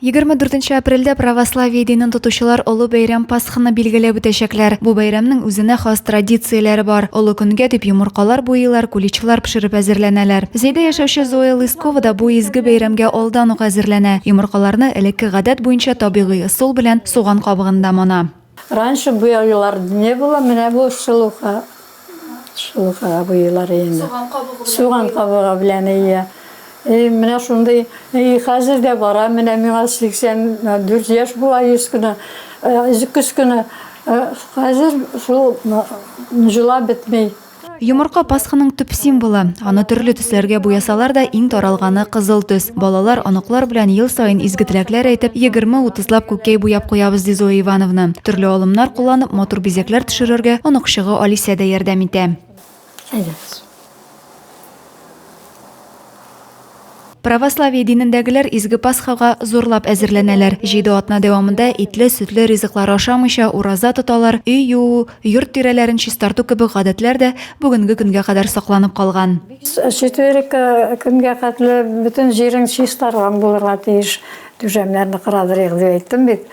Егерме дүртенче апрельдә православие динен тотучылар олы бәйрәм Пасханы билгеләп үтәчәкләр. Бу бәйрәмнең үзенә хас традицияләре бар. Олы көнгә дип йомыркалар буйыйлар, куличлар пешереп әзерләнәләр. Зәйдә яшәүче Зоя Лыскова да бу изге бәйрәмгә алдан ук әзерләнә. Йомыркаларны элекке гадәт буенча табигый ысул белән суган кабыгында мона. Раньше буялар не было, менә бу шелуха. Шелухага буялар инде. Суган кабыгы белән. Суган кабыгы белән ия. И менә шундый, и хәзер дә бара, менә миңа 84 яшь була еш кына, көз кына. Хәзер шул җыла бетми. Йомырка Пасханың төп символы. Аны төрле төсләргә буясалар да, иң таралганы кызыл төс. Балалар, оныклар белән ел саен изге теләкләр әйтеп, 20-30лап күккәй буяп куябыз, ди Зоя Ивановна. Төрле алымнар кулланып, матур бизәкләр төшерергә оныкчыгы Алисә дә ярдәм итә. Әйдәгез. Православие динендәгеләр изге Пасхага зурлап әзерләнәләр. Җиде атна дәвамында итле, сөтле ризыклар ашамыйча ураза тоталар, өй юу, йорт тирәләрен чистарту кебек гадәтләр дә бүгенге көнгә кадәр сакланып калган. Четверг көнгә хәтле бөтен җирең чистарган булырга тиеш. Түшәмнәрне кырадырыйк дип әйттем бит.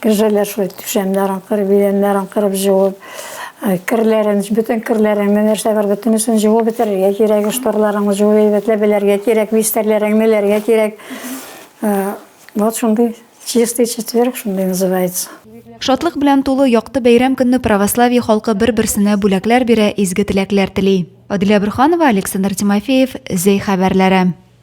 Кешеләр шулай түшәмнәрен кырып, идәннәрен кырып җуып, э, керләрен, бөтен керләреңне нәрсә бар, бөтенесен җуып бетерергә кирәк, шторларыңны җуып әйбәтләп белергә кирәк, бистәрләреңне эләргә кирәк. Э, вот шундый чистый четверг шундый называется. Шатлык белән тулы якты бәйрәм көнне православие халкы бер-берсенә бүләкләр бирә, изге теләкләр тели. Аделя Бурханова, Александр Тимофеев, Зәй хәбәрләре.